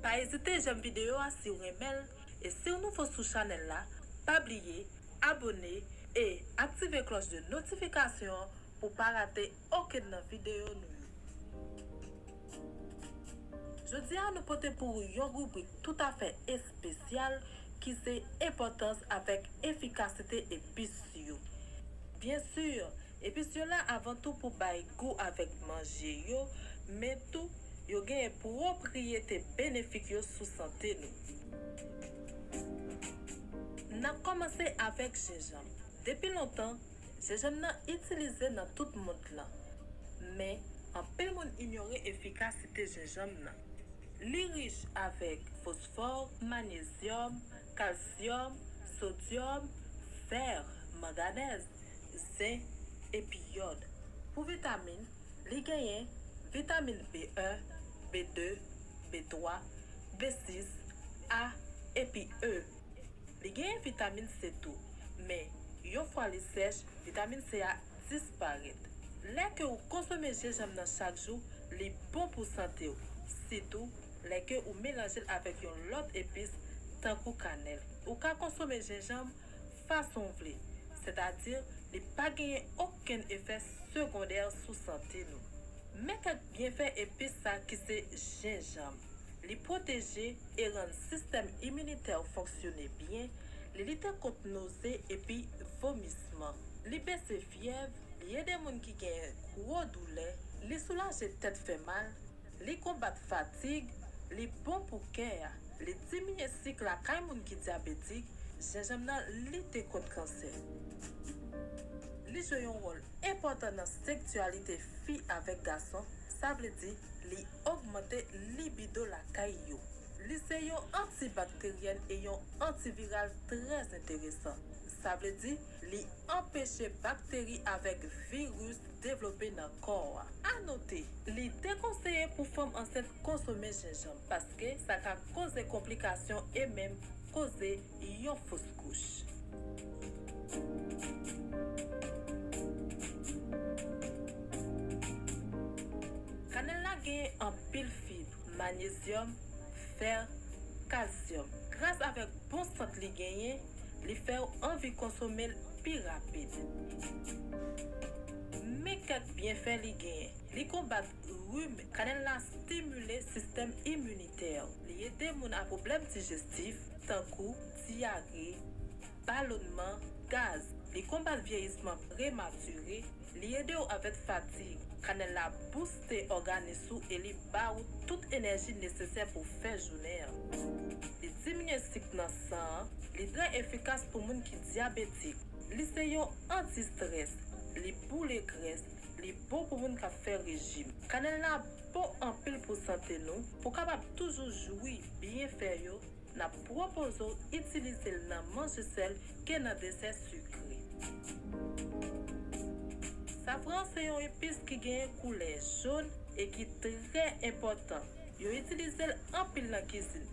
Pa ezite jèm video a siw renmenl e siw nouvo sou chanèl la pa bliye abone e aktive klòch de notifikasyon an pou pa rate okenn nan video nou yo. Jodi a nou pote pou ou yon ribrik tout afè espesyal ki se enpòtans avèk efikasite epis yo. Byen sur Epis yo la avan tou pou bay gou avèk manje yo, men tou, yo genyen pwopriyete benefik yo sou sante nou. N ap kòmanse avèk jenjanm. Depi lontan, jenjanm nan itilize nan tout mond lan. Men, anpil moun inyore efikasite jenjanm nan. Li rich avèk fosfò, manyezyòm, kalsyòm, sodyòm, fè, manganèz. zen, epi yòd. Pou vitamin, li genyen, vitamin B1, B2, B3, B6, A, epi E. Li genyen vitamin C tou, men yon fwa li sèch, vitamin C a disparèt. Lè ke ou konsome jenjanm nan chak jou, li bon pou sante ou, sitou lè ke ou melanje l avèk yon lòt epis tankou kanèl. Ou ka konsome jenjanm. fason w vle, sètadi li pa genyen okenn efè segondè sou sante nou. Men kèk byenfè epis sa ki se jenjanm, li pwoteje e rann sistèm iminitè w fonksyone byen, li lite kont noze epi vomisman, li bese fyèv, li ede moun ki genyen gwo doulè, li soulaje tèt fè mal, Li konbat fatig, li bon pou kè a, li diminye sik lakay moun ki dyabetik, jenjanm nan lite kont kansè. Li jwe yon wòl enpòtan nan sektyalite fi avèk gason, sa vle di li ogmante libido lakay yo. Li se yon antibakteryèn e yon antiviral trè enteresan, sa vle di li anpeche bakteri avèk viris devlope nan kò a. Anote, li dekonseye pou fanm ansent konsome jenjanm paske sa ka koze konplikasyon e menm koze yon fos kouch. Kanèl la genyen anpil fib, manyezyòm, fer, kalsyòm. Gras avèk bon sant li genyen, li fèw anvi konsomel pi rapid. Men kèk byenfè li genyen. Li konbat rim. Kanèl la stimile sistèm iminitèw. Li ede moun a pwoblèm dijestif, tankou dyare, balonnman, gaz, li konbat vyeyisman prematire, li ede w avèk fatig, kanèl la bouste òganis ou e li ba ou tout enèji nesesè pou w fè jounen an. Li diminye sik nan san an, li trè efikas pou moun ki dyabetik, li se yon anti strès, li boule grès, li bon pou moun kap fè rejim. Kanèl la bon anpil pou sante nou, pou w kapab toujou jwi byenfè yo, n ap pwopoze w itilize l nan manje sèl ke nan desè sikre. Safran se yon epis ki genyen koulè jon e ki trè enpòtan. Yo itilize l anpil nan kizin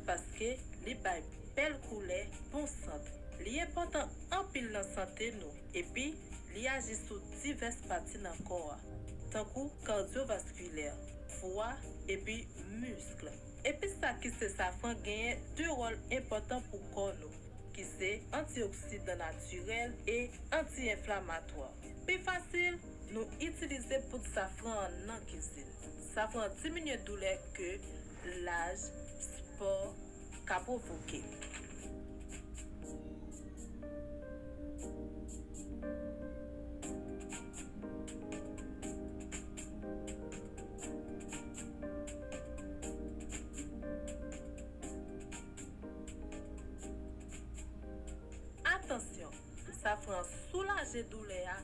paske li bay bèl koulè, bon sant. Li enpòtan anpil nan sante nou epi li aji sou divès pati nan kò a, tankou kardyovaskilè, fwa epi miskl. Epis sa ki se safran genyen 2 wòl enpòtan pou kò nou, ki se antioksidan natirèl e anti-enflamatwa. Pi fasil, nou itilize poud safran an nan kizin. Safran diminye doulè ke laj, spò, ka pwovoke. Atansyon, Safran soulaje doulè a,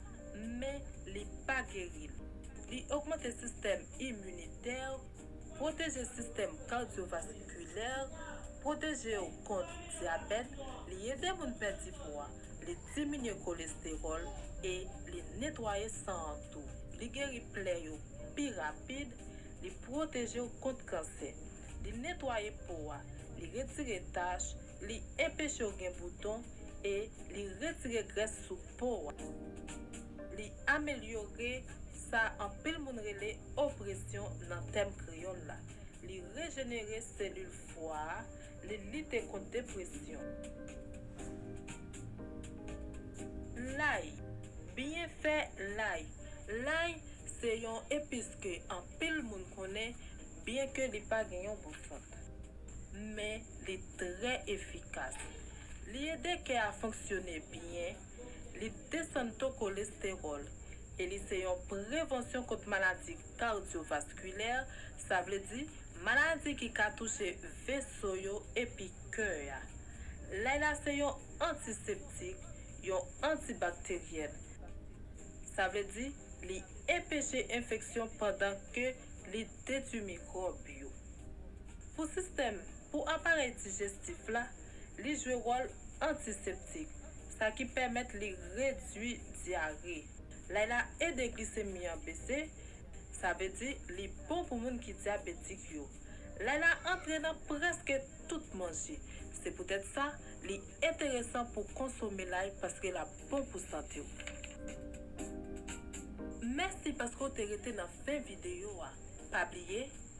men li pa geri l. Li ogmante sistèm iminitè, pwoteje sistèm kardyovaskilè, pwoteje w kont dyabèt, li ede moun pèdi pwa. Li diminye kolestewòl e li netwaye san an tou. Li geri plè yo pi rapid, li pwoteje w kont kansè. Li netwaye po a, li retire tach, li enpeche w gen bouton e li retire grès sou po a. Li amelyore sa anpil moun rele opresyon nan tèm kreyòl la. Li rejenere selil fwa a, Li lite kont depresyon. Lay. Byenfè lay. Lay se yon epis ke anpil moun konnen byenke li pa gen yon gou fòt. Men li trè efikas. Li ede kè a fonksyone byen. li desann to kolestewòl e li se yon prevansyon kont maladi kardyovaskilè, sa vle di maladi ki ka touche veso yo epi kè a. Lay la se yon antiseptik, yon antibakteryèl. Sa vle di li enpeche enfeksyon pandan ke li detui mikwòb yo. Pou sistèm, pou aparèy dijestif la, Li jwe wòl antiseptik, sa ki pèmèt li redui dyare. Lay la ede glisemi an bese, sa vle di li bon pou moun ki dyabetik yo. Lay la antre nan prèske tout manje, se poutèt sa li enteresan pou konsome lay paske l ap bon pou sante w. Mèsi paske w te rete nan fen videyo a. Pa bliye